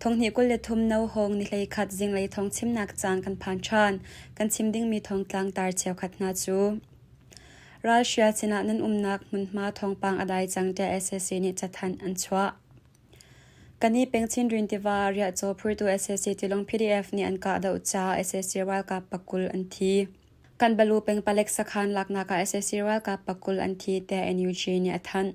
Thonghnih kul le thum no hawng nihlei khat zinglei thong chimnak caan kan phan ṭhan. Kan chim dingmi thong tlangtar cheukhat hna cu Ralhria sinah nan umnak hmunhma thawngpang a dai cang tiah sac nih cathanh an chuah. Kan i peng chinrin tiva ah riahcaw phurtu sac tilung PDF nih an kah deuh caah sac ralkap pakul an thi. Kanbalu peng palek sakhan laknak ah sac ralkap pakul an thi tiah NUG nih a thanh.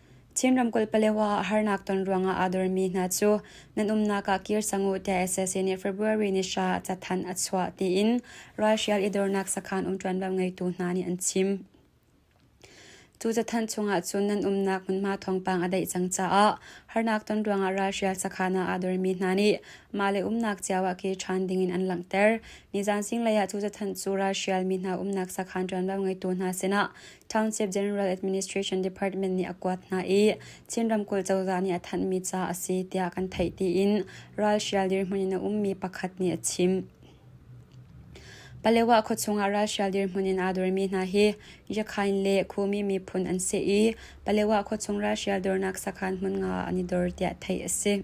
Chin ramkulh Palewa ah harnak ton ruangah aa dormi hna cu nan umnak ah kir cang u tiah SSC nih February ni hra ah cathanh a chuah tiin ralhrial i dornak sakhan um ṭuanvo ngeitu hna nih an chim. Cu cathanh chungah cun nan umnak hmunhma thawngpang a daih cang caah harnak ton ruangah ralhrial sakhan ah aa dormi hna nih mah le umnak cio ah kir ṭhan dingin an langhter. Nizan singlei ah cu cathanh cu ralhrial mi hna umnak sakhan ṭuanvo ngeitu hna sinah Township General Administration Department nih a kuat hna i Chin ramkulh cozah nih a thanhmi ca a si tiah kan theih tiin ralhrial dirhmun in a ummi pakhat nih a chim. Palewa khuachung ah ralhrial dirhmun in aa dormi hna hi Yakhain le Khumi miphun an si i Palewa khuachung ralhrial dornak sakhan hmun nga an i dor tiah theih a si.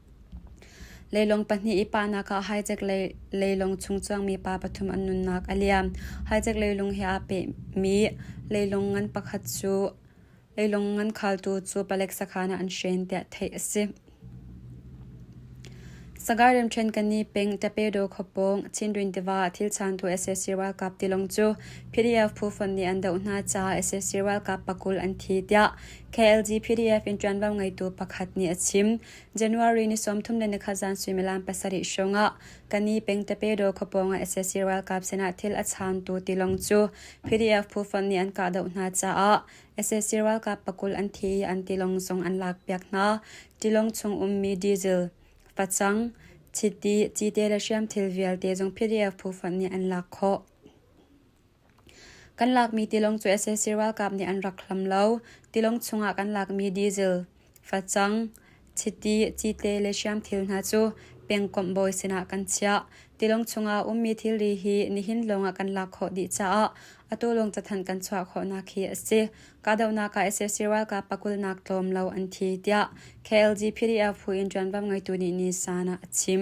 Leilung pahnih i pahnak ah haichek leilung chung cuangmi pa pathum an nunnak a liam. Haichek leilung he aa pehmi leilung ngan pakhat cu leilung ngan khaltu cu palek sakhan ah an hren tiah theih a si. Sagaing Remhrenkani peng Tapedo khuapawng Chinrin tiva thil changtu sac ralkap tilawng cu PDF phu fonh nih an doh hna caah sac ralkap pakul an thi tiah KLG PDF in ṭuanvo ngeitu pakhat nih a chim. January ni sawmthum le nikhat zan suimilam pasarih hrawngah Kani Pengtepedo khuapawng ah sac ralkap sinah thil a chaantu tilawng cu PDF phu fonh nih an kahdoh hna caah sac ralkap pakul an thi i an tilawng zong an lakpiak hna. Tilawng chung ummi diesel, facang, chiti, cite le hriamthil vialte zong PDF phu fonh nih an lak khawh. Kan lakmi tilung cu sac ralkap nih an rak hlam lo. Tilung chungah kan lakmi diesel, facang, chiti, cite le hriam thil hna cu pengkomh bawi sinah kan chiah. Tilung chungah ummi thilri hi nihin lawngah kan lak khawh dih caah atu lawng cathanh kan chuah khawhnak hi a si. Kahdohnak ah sac ralkap pakulnak tlawm lo an thi, tiah KLG PDF phu in ṭuanvo ngeitu nih Nisan ah a chim.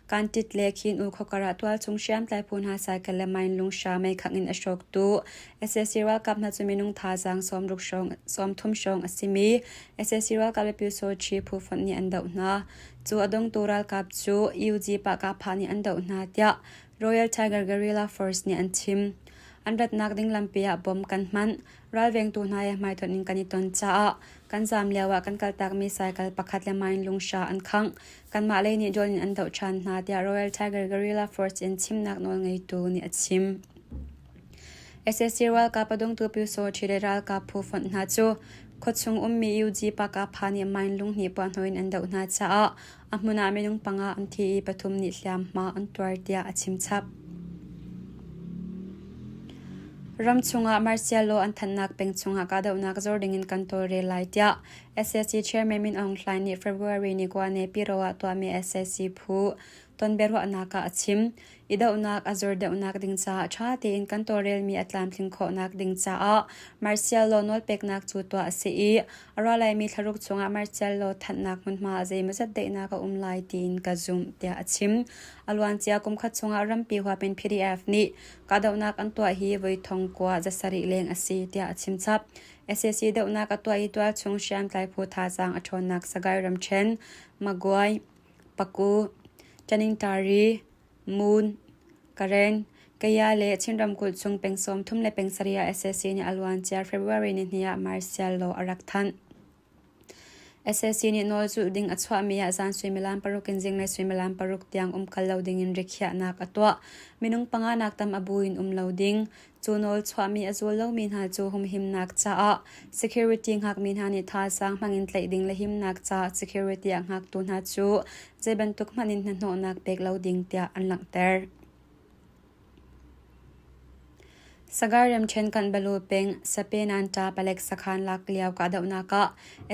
Kantit le Khin-u khuakar ah tualchung hriamtlai phu hna cycle le mine lung hra meikhat in a hrawktu sac ralkap hna cu minung thazaang sawmthum hrawng a simi sac ralkap le pyesoci phu fonh nih an doh hna. Cu a dongtu ralkap cu UG Pahkahphah nih an doh hna tiah Royal Tiger Guerrilla Force nih an chim. An ratnak ding lampi ah bom kan hmanh, ralvengtu hna he hmaitonh in kan i ton caah kan zaam lio ah kan kaltakmi cycle pakhat le mine lung hra an khangh. Kanmah lei nih John in an doh ṭhan hna, tiah Royal Tiger Guerrilla Force in chimnak nawlngeitu nih a chim. SSC ralkap a dungtu Pyu Saw ṭhile ralkap phu fonh hna cu khuachung ummi UG Pakapha nih mine lung hnih puahhnawh in an doh hna caah a hmun ah minung panga an thi i pathum nih hliamhma an tuar tiah a chimchap. Ram chungah martial law an thannak peng chungah kahdohnak zor dingin kan tawlrel lai tiah sac chairman Min Aung Hlaing nih February ni kua Nepiro ah tuahmi sac phu tonbiaruahnak ah a chim. I dohnak a zur deuhnak ding caah ṭha tein kan tawlrelmi a tlamtling khawhnak ding caah martial law nawlpeknak cu tuah a si i a ralaimi thlaruk chungah martial law thanhnak hmunhma ah zeimawzat daihnak a um lai tiin ka zumh tiah a chim. A luancia kumkhat chungah rampi huapin PDF nih kahdohnak an tuah hi voi thong kua zasarih leng a si tiah a chimchap. SAC dohnak a tuah i tual chung hriamtlai phu thazaang a ṭhawnnak Sagaing ramṭhen, Magwai, Paku, Chaningtari, Mun, Karen, Kaya le Chin ramkulh chung peng sawmthum le peng sarih ah SAC nih a luancia February nihnih ah martial law a rak thanh. sac nih nawl zulh ding a chuahmi ah zan suimilam paruk in zinglei suimilam paruk tiang um kal lo ding in rikhiahnak a tuah. Minung panga nak tam a bu in um lo ding. Cu nawl chuahmi a zul lomi hna cu humhimnak caah security ngakmi hna nih thazaang hmang in tlaih ding le himnak caah security a ngaktu hna cu zei bantuk hmanh in hnahnawhnak pek lo ding tiah an langhter. Sagar remṭhen kanh balu peng Sape Nanta palek sakhan lak lio kahdohnak ah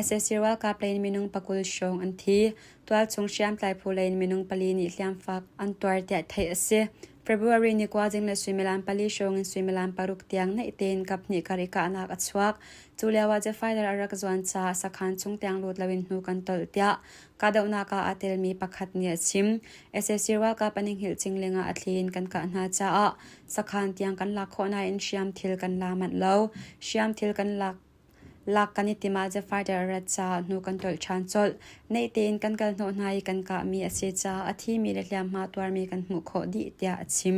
sac ralkap lei in minung pakul hrawng an thi. Tualchung hriamtlai phu lei in minung pali nih hliamfaak an tuar tiah theih a si. February ni kua ding le suimilam pali hrawng in suimilam paruk tiang naih tein kaphnih kar i kahnak a chuak. Cu lio ah Jafaider a rak zuan caah sakhan chung tiang lut lo in hnu kan tolh tiah Kahdohnak ah aa telmi pakhat nih a chim. SAC ralkap an i hngilhcing lengah a thli in kan kah hna caah sakhan tiang kan lak khawh nain hriamthil kan la manh lo. Hriamthil kan lak lak kan i tim ahcun fighter a rat caah hnu kan tolh ṭhan colh. Naitein kan kal hnawh hna i kan kahmi a si caah a thimi le hliamhma tuarmi kan hmuh khawh dih tiah a chim.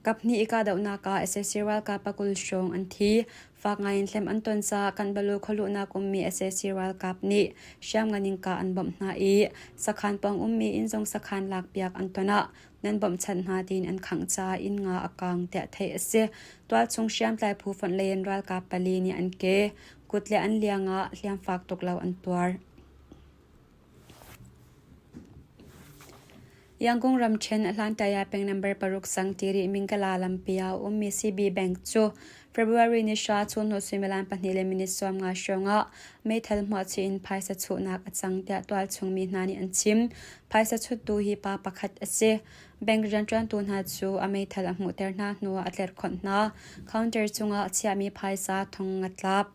Kaphnih i kahdohnak ah sac ralkap pa kul hrawng an thi. Fak ngaiin hliam an ton caah Kanbalu khualuhnak ummi sac ralkap nih hriamngan in kah an bawmh hna i sakhan pawng ummi inzong sakhan lakpiak an ton ah nan bawmhchanh hna tiin an khangh caah inn nga a kaang tiah theih a si. Tualchung hriamtlai phu fonh lei in ralkap pali nih an ke, kut le an liang ah hliam fak tuk lo an tuar. Yangon ramṭhen a hlantaya peng number paruk sang tiri Mingkala lampi ah a ummi CB Bank cu February ni hra chungnu suimilam pahnih le minit sawmnga hrawngah meithal hmuahchih in phaisa chuhnak a cang tiah tualchungmi hna nih an chim. Phaisa chuttu hi pa pakhat a si. Bank rianṭuantu hna cu a meithal a hmuhter hna hnuah a tlerhkhonh hna. Counter cungah a chiahmi phaisa thong a tlap.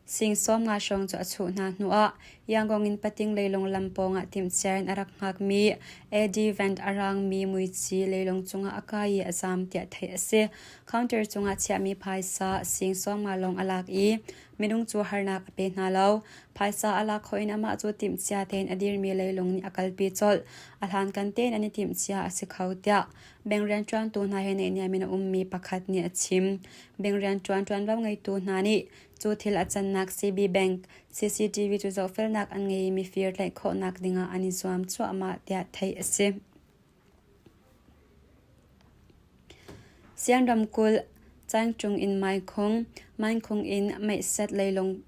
Singsawm nga hrawng cu a chuh hna hnuah Yangon in Pating leilung lam pawngah timhcia in a rak hngakmi Eddie Van a raangmi muici leilung cungah a kai i a zaam tiah theih a si. Counter cungah chiahmi phaisa singsawm nga lawng a lak i minung cu harnak a pe hna lo. Phaisa a lak hawh in amah cu timhcia tein a dirmi leilung nih a kalpi colh. A hlankan tein an i timhcia a si kho tiah Bank rianṭuantu hna he neihniam in a ummi pakhat nih a chim. Bank rianṭuan ṭuanvo ngeitu hna nih cu thil a cannak CB Bank CCTV cu zohfelnak an ngei i mifir tlaih khawhnak dingah an i zuam cuahmah tiah theih a si. Sian ramkulh, Caing Cung in Mai Khung, Main Khung in Meihset leilung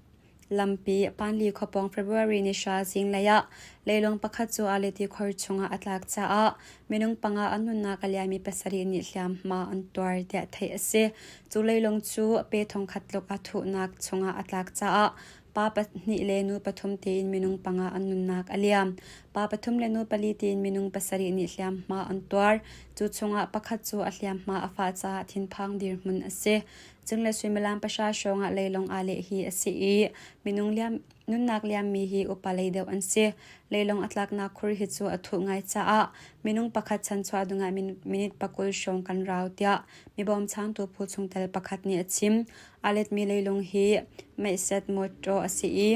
Lampi Panli khuapawng February ni hra zinglei ah leilung pakhat cu Aleti khuar chungah a tlak caah minung panga an nunnak a liammi pasarih nih hliamhma an tuar tiah theih a si. Cu leilung cu pe thongkhat tluk a thuhnak chungah a tlak caah pa pahnih le nu pathum tiin minung panga an nunnak a liam. Pa pathum le nu pali tiin minung pasarih nih hliamhma an tuar. Cu chungah pakhat cu a hliamhma a fah caah thinphang dirhmun a si. Cun le suimilam pahra hrawng ah leilong aa leh hi a si i minung nunnak liammi hi upa lei deuh an si. Leilong a tlaknak khur hi cu a thuh ngai caah minung pakhat chan chuah dingah minute pakul hrawng kan rau tiah mibawmchangtu phu chungtel pakhat nih a chim. Aa letmi leilong hi meiset mawṭaw a si i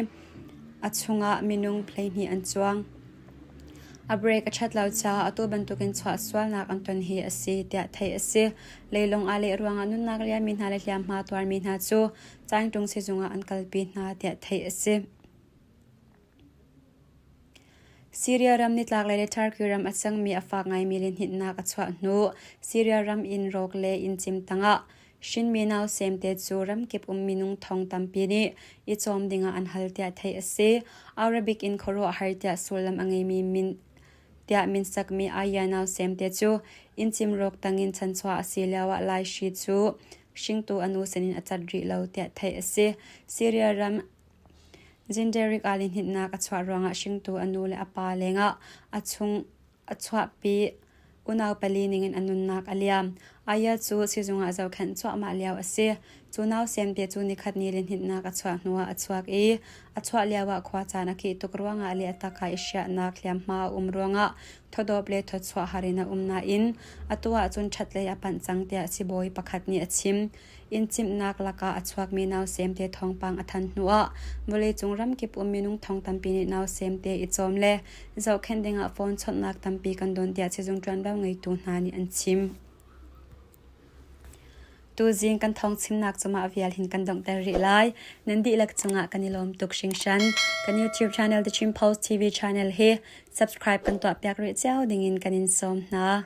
a chungah minung hleihnih an cuang. A break a ṭhat lo caah atu bantukin chuah sualnak an ton hi a si tiah theih a si. Leilung ah leh ruangah nunnak riami hna le hliamhma tuarmi hna cu Caingtung sizung ah an kalpi hna tiah theih a si. Syria ram nitlaklei le Turkey ram a cangmi a fak ngaimi lianhnitnak a chuah hnu Syria ram in rawk le inn cim tangah Hrinmi nau semte cu ramkip um minung thong tampi nih i cawm dingah an hal tiah theih a si. Arabic in khuaruahhar tiah sullam a ngeimi min tiah min sakmi aya nau semte cu inn cimrawk tangin chanchuah a si lioah laihri cu hringtu a nu sinin a cat rih lo tiah theih a si. Syria ram Zinderik ah lihnitnak a chuah ruangah hringtu a nu le a pa lengah a chung A chuahpi. Unau pali ningin a nunnak a liam. Aya cu sizung ah zohkhenh cuahmah lio a si. Cu nau sianpi cu nikhat ni lihninh-nak a chuah hnuah a chuak i a chuah lioah khua caan a kih tuk ruangah le a taka i siahnak hliamhma a um ruangah thawdawp le thawchuah har in a um nain atu ahcun ṭhatlei a panh cang tiah sibawi pakhat nih a chim. Inn chimhnak lakah a chuakmi nausem te thawngpang a thanh hnuah vawleicung ramkip um minung thong tampi nih nausem te i cawm le zohkhenh dingah phone chawnhnak tampi kan don tiah sizung ṭuanvo ngeitu hna nih an chim. Tuzing kan thong chimnak cungah vial hin kan donghter rih lai. Nan dihlak cungah kan i lawm tuk hringhran. Kan YouTube channel The Chin Post TV channel hi subscribe kan tuahpiak rih cio dingin kan in sawm hna.